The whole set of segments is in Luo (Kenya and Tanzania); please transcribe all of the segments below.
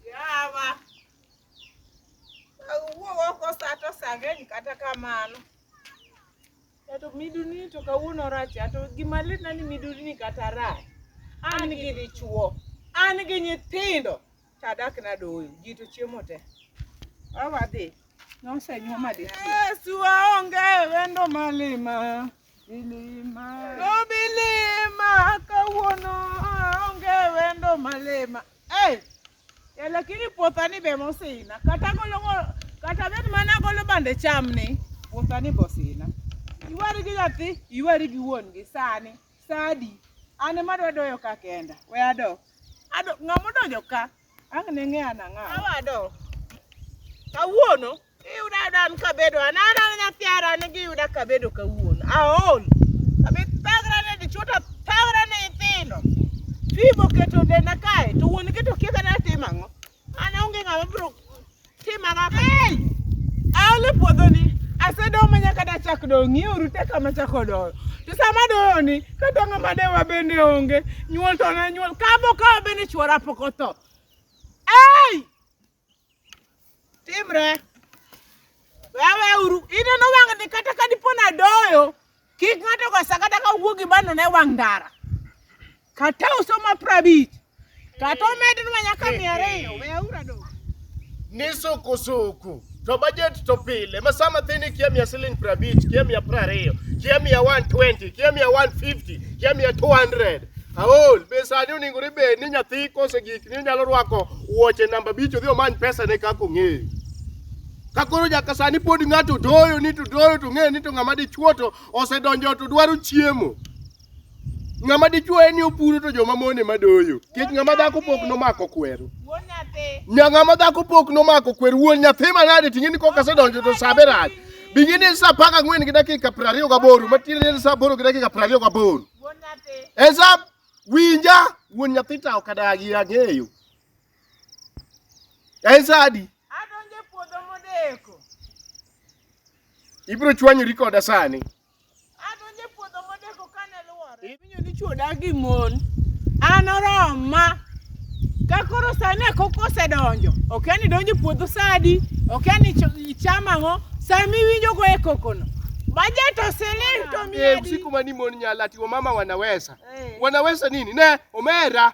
Yawa. Awuo oko sa to sa ng'eny kata kamano. To miduni to kawuono rach to gima litna ni miduni kata rach. An gi dichuo, an gi nyithindo, to adak nadoyo, ji to chiemo te. Awadhi. Nosenyuoma dichuo. Yesu aonge wendo malima. Bilima. No bilima kawuono onge wendo malima. Eh. Ya lakini puothani be mosina. Kata golo kata bet mana golo bande cham ni puothani bosina. Iwari gi nyathi, iwari gi wuon gi sani. Sadi. An ema adwa doyo ka kenda. We ado. Ado ng'ama odonjo ka Ang' ne ng'e an ang'awa. Awado. Kawuono iyuda ayuda an kabedo an an an nyathi ara an giyuda kabedo kawuono. Aol. Abi thagra ne dichuo to thagra ne nyithindo. Fim oketo denda kae to wuon gi to kia kata atimo ang'o. An onge ng'ama biro Timara hey! Aole puodhoni asedoyo ma nyaka dachak doyo ng'iuru te kama chako doyo to sama doyo ni ka dongo ma dewa bende onge nyuol to na nyuol kabo kawa bende chuora pok otho ei timre wewe uru ineno wang'ni kata ka dipo nadoyo Kik ng'ato kasa kata ka wuo gi bando ne wang' ndara. Kata usoma prabich. Kata omed nwa nyaka mia ariyo. We aura do. Ni suku suku. To budget to pile. Ma sama thini kia mia siling prabich, kia mia prariyo, kia mia 120, kia mia 150, kia mia 200. Aol, be sani oningo ni be ni nyathi kose gik ni nyalo rwako wuoche namba bich odhi omany pesa ne kako ng'eyo. Ka koro nyaka sani pod ng'ato doyo ni to doyo to ng'eyo ni to ng'ama dichuo to osedonjo to dwaro chiemo. Ng'ama dichuo en ni opuro to joma mon ema doyo. Nikech ng'ama dhako pok nomako kweru. Wuon nyathi. Nya ng'ama dhako pok nomako kweru wuon nyathi manade ting'e ni koka sedonjo to sa be rach. Bing'e ni en sa apar gang'wen gi dakika piero ariyo gaboro matiende ni en sa aboro gi dakika piero ariyo gaboro. Wuon nyathi. En sa winja wuon nyathi to ok adagi ang'eyo. En sa adi? Adonjo e puodho modeko. Ibiro chwanyori koda sani. Adonjo e puodho modeko kane luwore. Iwinjo ni chwo odak gi mon. An oroma. Ka koro sani e koko osedonjo. Okia ni idonjo e puodho sa adi. Okia ni ichamo ang'o. Sama iwinjo go e kokono. Bajet osiling to miya Eh, adi? usiku mani mon nyala ati wamama wanaweza. Eh. Wanaweza nini? Ne, omera.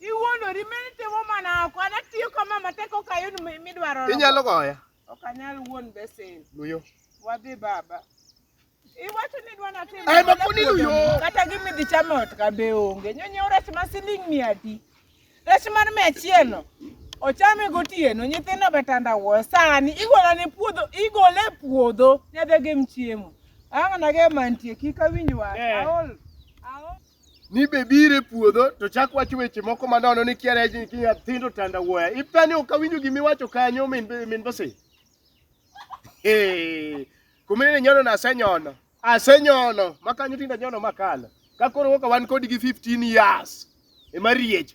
Iwuondori mimi timo mana oko. Ana tiyo kama matek ok ayud mi- midwaro. Inyalo goya. Ok anyal wuon besen. Luyo. Wadhi baba. Iwacho ni dwa natim. Ai, makuni luyo. Kata gimi dhi chamo ot ka be onge. Nyonyo rech ma siling mia adi. Rech mar mia achiel no. Ochame gotieno, nyithindo be tanda wuo. Sani igolo ne puodho, igole e puodho. Nyadhi gem chiemo. Ang'na ge mantie kik awinj wach. Eh. Aol. Aol. ni be bire puodho to chak wacho weche moko ma nono ni kiara ji ki nyithindo tanda wuoya ipa ni ok awinjo gima iwacho kanyo min min bose eh kumene nyono na asenyono asenyono makanyo tinda nyono makala ka koro woka wan kodi gi 15 years e mariech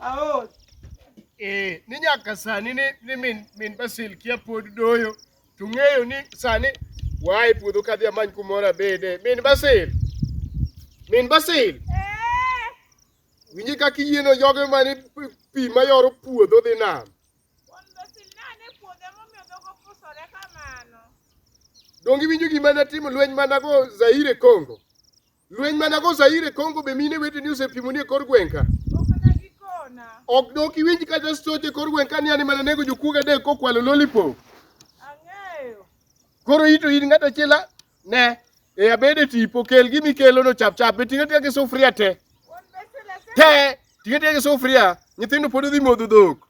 Aos. Eh, ni nyaka sani ni, ni min, min Basil kia pod doyo. To ng'eyo ni sani wae puodho kadhi amany kumoro abede. Min Basil. Min Basil. Eh. Winji kaka iyieno joge mane pi mayoro puodho dhi nam. Donge iwinjo gima natimo lweny manago Zaire Congo? Lweny mana go Zaire Kongo be mine weteni osepimoni e kor gweng' ka. Ok dok iwinj kata stoch e kor gweng' ka ni an ema nanego jokuoge adek kokwalo lollipop. Koro ito in ng'at achiel a- ne e abede tipo kel gimi kelo no chap chap ting'e ting'e gi sufuria te. Te ting'e ting'e gi sufuria nyithindo pod odhi modho dhok.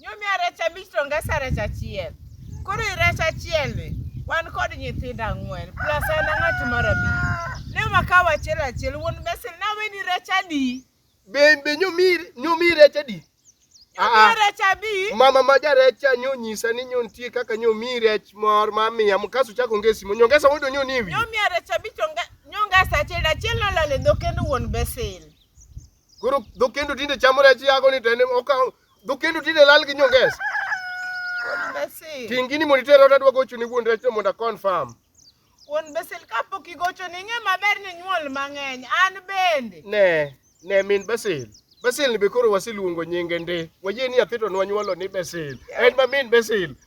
Nyomia rech abich to ngesa rech achiel. Koro i rech achiel ni wan kod nyithindo ang'wen plus an ang'at mar abich. Ne wakawo achiel achiel wuon mesil na weni rech adi? Be be nyomi nyomi rech adi? Ah, Nyomia ah. rech abich. Mama ma jarecha nyo nyisa ni nyo nitie kaka nyo mi rech mor ma miya mkaso chako ngesi mo nyongesa mondo nyo ni wi. Nyomia rech abich to nge- nyongesa achiel achiel nolal e dho kendo wuon besil. Koro dho kendo tinde chamo rech yago ni to en okawo dho kendo tinde lal gi nyongesa. Ting gini mondo iter ot adwa gocho ni wuon rech mondo confirm. Wuon Basil kapok igocho ni ng'e maber ni nyuol mang'eny an bende. Ne, ne min Basil. Basil ni be koro wasiluongo nyinge ndi. Wayie ni atito nwa nyuolo ni Basil. En ma min Basil.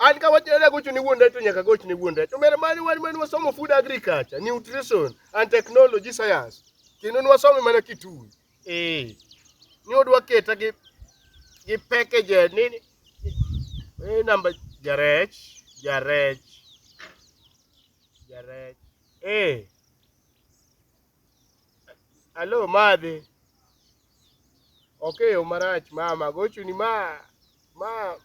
An ka wachne ni agocho ne wuon dayo to nyaka agoch ne wuon dayo. To mere mane wan mane wasomo food agriculture, nutrition and technology science. Kendo ne wasome mana Kitui. Eh. Ni odwa keta gi gi package ni ni- eh namba jarech, jarech. Jarech. Eh. Alo madhi. Ok eyo marach mama, gochuni ma ma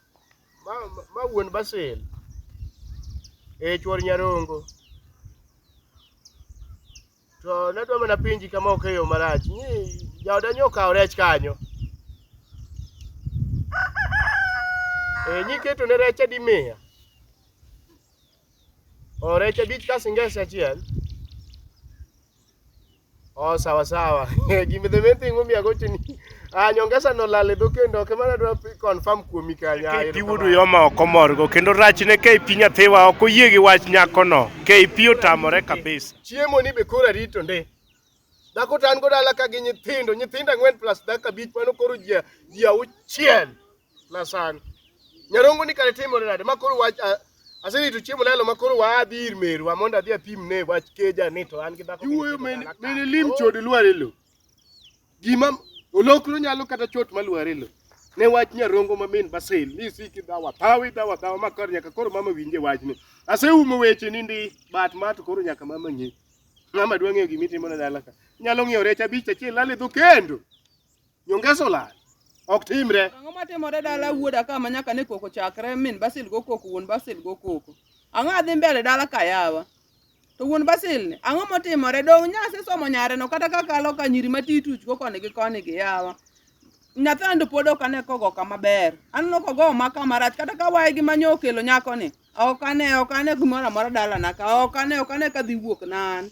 ma ma wuon Basil. Eh chuor Nyarongo. To nadwa mana penji kama ok eyo marach. Ni jaoda nyo kawo rech kanyo. Eh nyiketo ne rech adi miya? Orech abich ka singese achiel. Oh, sawa sawa. Gima the main thing momiyo agocho ni ah, nyongesa no lale do kendo ok mana dwa confirm kuomi kanya. KP wudu yoma ok omorgo kendo rachne KP nyathiwa ok oyie gi wach nyakono. KP otamore kabisa. Chiemo ni be koro arito ndi. Dhako to an go dala ka gi nyithindo, nyithindo ang'wen plus dakika abich mano koro ji ji auchiel. na sani. Nyarongo ni kare timore nade ma koro wach a- aserito chiemo lalo ma koro waa adhi ir merwa mondo adhi apim ne wach keja ni to an gi dhako Iwuoyo mene mene lim chode lware lo. Gima olokro nyalo kata chot ma lware lo. Ne wach nyarongo ma min Basel ni siki dawa tawi dawa dawa ma kar nyaka koro mama winje wachni. Aseumo weche ni ndi bat ma to koro nyaka mama ng'e. Mama dwa ng'eyo gima itimo na dala ka. Nyalo ng'iewo rech abich achiel lale dho kendo. Nyongesa olal. Ok timre. Ang'o matimore dala wuoda ka ma nyaka ne koko chakre min Basil go koko wuon Basil go koko. Ang'o adhi mbele dala ka yawa. To wuon Basil ni ang'o motimore dong' nyase somo nyare no kata ka kalo ka nyiri ma tituch go koni gi koni gi yawa. Nyathando pod ok ane kogo kama ber. Aneno kogo ma kama rach kata ka waye gi manyo okelo nyako ni. Ok ane ok ane gimoro amora dala na ka ok ane ok ane ka dhi wuok nan.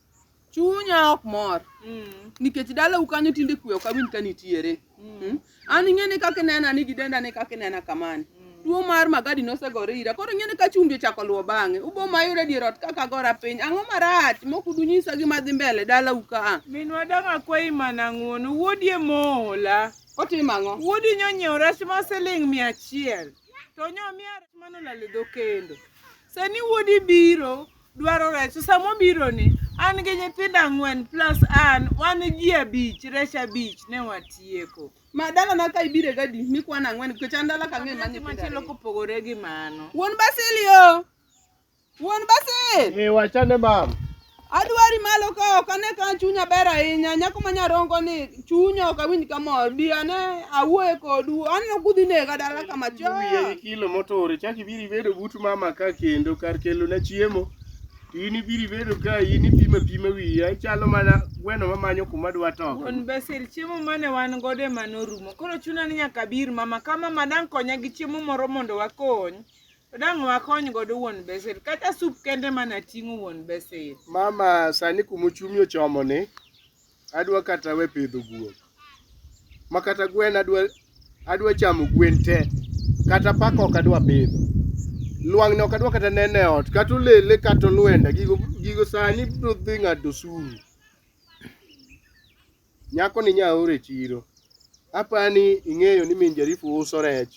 chunya ok mor Mm. nikech dalau kanyo tinde kwe ok awinj ka nitiere Mm. an ing'eni kaka inena ni gidenda ni kaka inena kamani tuo mar magadi nosegore ira koro ing'eni ka chumbi ochako luwo bang'e ubo mayudo dier ot kaka agora piny ang'o marach mok udunyisa gima dhi mbele dalau ka a Minwa dang' akwayi mana ng'uono. Wuodi e moola. otimo ang'o Wuodi nyonyiewo rech ma siling' mia achiel. To nyomiya rech manolal e dho kendo. Sani wuodi biro dwaro rech to sama obironi an gi nyithindo ang'wen plus an wan ji abich rech abich ne watieko. Ma dalana ka ibire gadi mikwana ang'wen nikech an dala ka ang'eyo ma nyithindo ariyo. Machielo kopogore gi mano. Wuon Basil yo. Wuon Basil. Ee wachane mam. Adwari malo ka ok ane ka chunya ber ahinya nyako ma nyarongo ni. Chunya ok awinj kamor. Bi ane awuoye kodu. Aneno kudhi nega dala kama Wiye choya. gi kilo motore chak ibiro ibedo but mama ka kendo kar kelo na chiemo to in ibiro ibedo ka in ipima pima wiya ichalo mana gweno mamanyo kuma dwa toko Wuon Basil, chiemo mane wan godo ema norumo. Koro chuna ni nyaka bir mama ka mama dang' konya gi chiemo moro mondo wakony. To dang' wakony godo wuon Basil. Kata sup kende mana ting'o wuon Basil. mama sani kuma ochumi ochomoni adwa kata we pidho guok ma kata gwen adwa adwa chamo gwen te kata paka ok adwa pidho lwang'ni ok adwa kata nene ot kata olele kata olwenda gigo gigo sani biro dhi ng'ado suru nyako ni nyaore e chiro apani ing'eyo ni min jarifu uso rech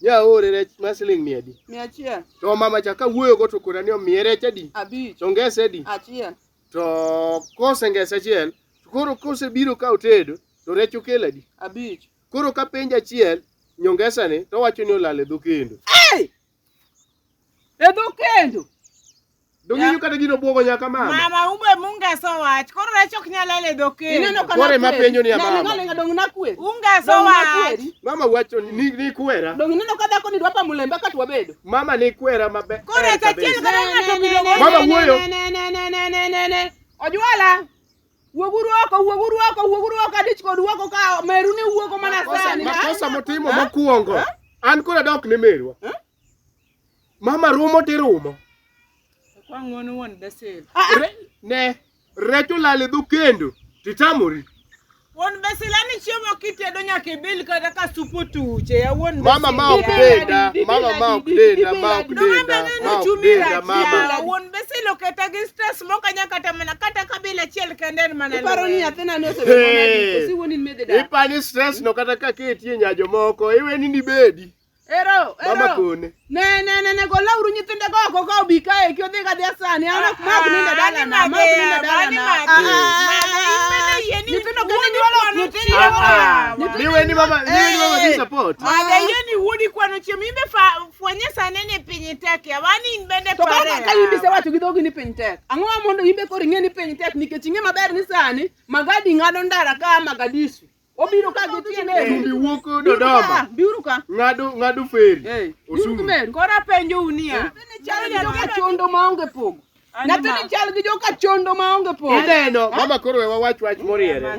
nyaore rech ma siling mia adi mia achiel to mama cha kawuoyogo to kora ni omiye rech adi abich to ngese adi achiel To kosengese achiel, to koro kosebiro ka otedo, to rech okel adi? Abich. Koro ka penjo achiel, nyongesani to wacho ni olal e dho kendo. Hey! E dho kendo. Dong'inyo kata gino bwogo nyaka mama. Mama umbe mungeso wach. Koro rech ok nyal lal e dho kendo. Ineno ka Kore ma penjo ni ya mama. Nani ng'alenga dong nakweri. Ungeso Dong wach. nakweri. Mama wacho ni ni kwera. Dong ineno ka dhako ni dwa pamo lembe ka twabedo. Mama ni kwera maber. Koro e achiel kata ng'ato biro go. Mama wuoyo. Ojwala. Wuoguru oko, wuoguru oko, wuoguru oko adich kod wuoko ka meru ne wuoko mana sani. Makosa motimo mokuongo. An koro adok ne merwa. Mama rumo tirumo. Kwa ng'wono wuon Basil. Ah, ah. Ne. Rech olal e dho kendo to itamori. Wuon be silani chiemo kitedo nyaka ibil kata ka sup otuche ya wuon be Mama ma ok silani. denda, mama ma ok denda, ma ok Nonga denda, bende ma ok nochumi denda, rachia. mama. Wuon be silo keta gi stress moko anya kata mana kata kabila achiel kende en mana Iparo ni lweny. nyathina ne osebedo Hey. nadi? Kosi wuon in mede dak? Ipani stress no kata ka ketie nyajo moko iweni ni bedi. Ero, ero. Mama kone. Ne, ne, ne, ne, gola uru nyithinde go oko ka obi kae ki odhi kadhi asani. An ok ma ok ninde dala na, ma ok ninde dala na. Nyithindo kende nyuolo nyithindo. Niwe ni mama, niwe ni mama gi support. Mada yie ni wudi kwano chiemo imbe fwenye sane ni piny tek ya wani in bende To koro ka in bise wacho gi dhogi ni piny tek. Ang'o ma mondo in be koro ing'e ni piny tek nikech ing'e maber ni sani magadi ng'ado ndara ka Magadisu. Obiro ka gi tiende. Chumbi wuok Dodoma. Biuru ka. Ng'ado ng'ado feri. Eh. Osungu. Kora penjo unia. Ni chal gi joka chondo ma onge pogo. Nyathini chal gi joka chondo ma onge pogo. Ineno, mama koro we wawach wach moriere.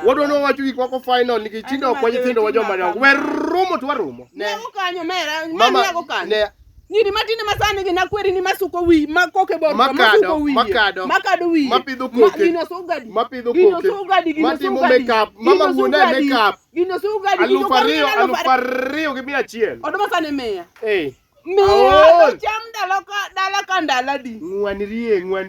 Wadwa ni wawacho gik moko final nikech tinde ok wa nyithindo wa joma dongo. Wer rumo to warumo. Ne. Kanyo mera. Mama. Ne. Nyiri matinde ma sani gin akweri ni masuko wi ma koke bor ma Makado, suko wiye makado. ma kado wiye Ma pidho koke. gino sugadi Ma pidho gino koke. sugadi gino Ma timo sugadi makeup. Ma gino mawuon e sugadi. makeup. gino sugadi gino Aluf ariyo, koro aluf aluf ariyo. ariyo gi mia achiel. Oduma sani miya Eh, miya Aol. cham dala ka dala ka ndala di. ng'wan rie, ng'wan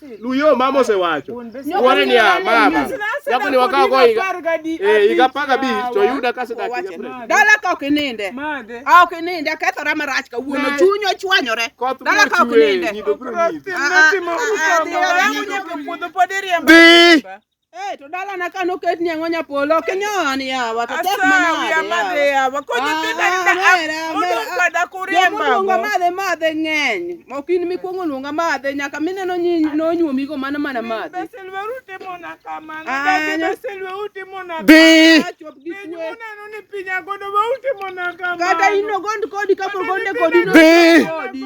Luyo mama osewacho. Wore ni a mama. Japo ni wakawo go higa. Eh, higa paga bi to yuda ka sida kike pre. Dala ka ok ininde. A ok ininde kethora marach ka wuono chuny ochwanyore. Dala ka ok ininde. Bi. Hey, to dala na kano ket ni ango nyapolo kinyon ya wata tek mana ya made ya wako ni tina ina mera mera da kuria mbago yo lunga made made ngeny mokin mi kuongo lunga made nyaka mine no nyi no nyu mi go mana mana made beselwe ute mona kamano da ke beselwe ute mona bi chop gi kwe mona no ni pinya godo ba ute mona kamano kata ino gond kodi kapo gonde kodi no bi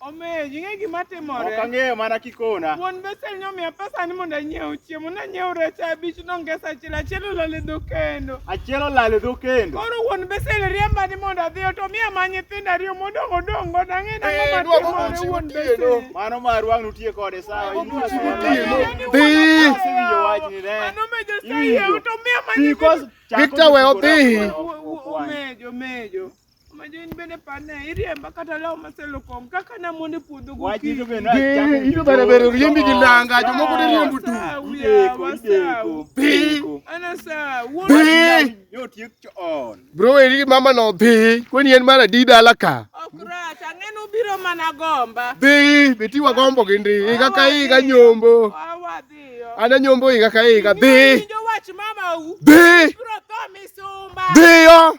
Omiyo ing'e gima timore. Ok ang'eyo mana kikona. Wuon Bethel nomiya pesa ni mondo anyiew chiemo. Nanyiew rech abich nongesa achiel achiel olal e dho kendo. Achiel olal e dho kendo. Koro wuon Bethel riemba ni mondo adhi ot omiya ma nyithindo ariyo modong' odong' godo ang'e na ng'ama eh, timore wuon Bethel. Mano mar wang' nutie kode sawa. Dhi. Mano me Josayie to miya ma nyithindo. Victor we odhi. Omejo, omejo. Majo in bende pane iriemba kata law maselokong kaka namon e puodho gokinyi. Ido bere bere riembi gi nanga jomoko ne riembu tu. Bro eri mama no bi kweni en mar adi dala ka. Okrach ang'enu biro mana gomba. Bi beti wa gombo gi ndi iga ka iga nyombo. Ana nyombo iga ka iga bi. Bi. Bi yo.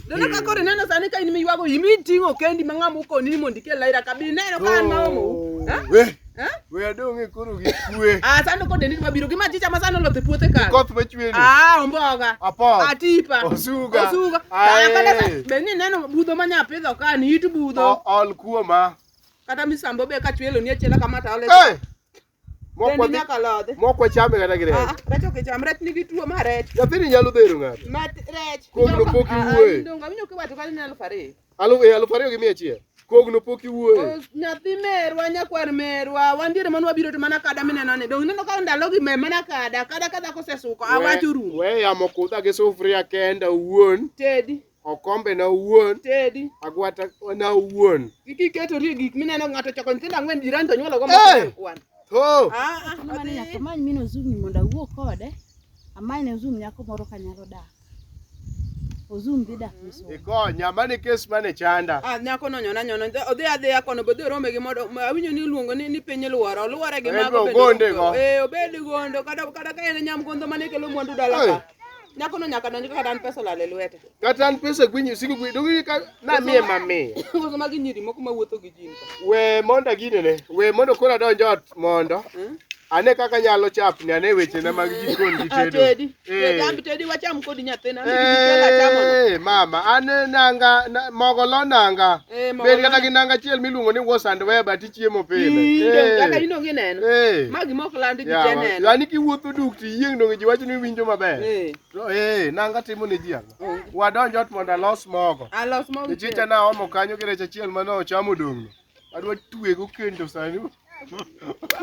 Neno ka kore neno sani ka in miywago in iting'o kendi ma ng'ama okoni ni mondo ikel laira ka bi neno ka an maomo. Oh, eh? We. Eh? We adong e koro gi kwe. Ah sani kode ni mabiro gi machicha ma sani oloth e puothe ka. Koth ma chwe ni. Ah omboga. Apo. Atipa. Osuga. Osuga. Ah kata be ni neno budho ma nya pidho ka ni it budho. Ol kuoma. Kata misambo be ka chwelo ni achiela kamata ole. Hey! Mok Dendi wadhi- nyaka lodhi. mok wachame kata gi rech Ah, rech ok icham, rech nigi tuo ma rech. nyathini nyalo dhero ng'ato Ma rech. Kogno pok Ah, ah, iwuoye. ndong' awinjo kiwacho kata ni aluf ariyo. Alu- eh, alufu ariyo gi mia achiel kogno pok iwuoye Oh, Nyathi merwa, nyakwar merwa, wan diere mane wabiro to mana kada mineno ni. Donge ineno ka ndalogi me mana kada, kada ka dhako osesuko, awach orumo. we yamo kudha gi sufuria kenda owuon Tedi. Okombe na owuon. Tedi. Agwata na owuon. Kik iketorie gik mineno ng'ato choko nyithindo ang'wen jirani to nyuolo go moko kwan. To. Ah, ah, Ni mane nyaka amany mine Ozumni mondo awuo kode. Amany ne Ozum nyako moro kanyalo dak. Ozum dhi dak Misumba. Ikonya, mane kes mane chanda. Ah, nyako no nyona nyona Odhi- odhi adhiya kono bodhi orome gi modo ma- awinjo ni iluongo ni, ni piny luoro oluore gi En mago be bende ogonde go. eh obed gondo kata kata ka en nyamgondo mane kelo mwandu dala ka Nyakono nyaka donj kaka dan pesa olal e lwete. Kata an pesa gwinyi usiku gwinyi. Dongi ka na mie ma mie. Koso magi nyiri moko ma wuotho gi jin ka. We mondo agine ne. We mondo kora donj ot mondo. Hmm? Ane kaka nyalo chapni ane weche na mag jikon gi tedo. Tedi. Tedi ambi tedi wacham kod nyathina. Eh mama ane nanga mogo lo nanga. Eh, Bed kata gi nanga chiel miluongo ni wash and wear but chiemo pile. Eh. Kaka in onge neno. Eh. Ma gima ok landi ji te neno. Yaani kiwuotho duk to iyieng' donge ji wacho ni winjo maber. Eh. To eh nanga timo ne ji ang'o? Oh. Wadonj ot mondo alos mogo. Alos mogo. Nichicha na omo kanyo gi rech achiel mane ochamo dong'no. Adwa twego kendo sani.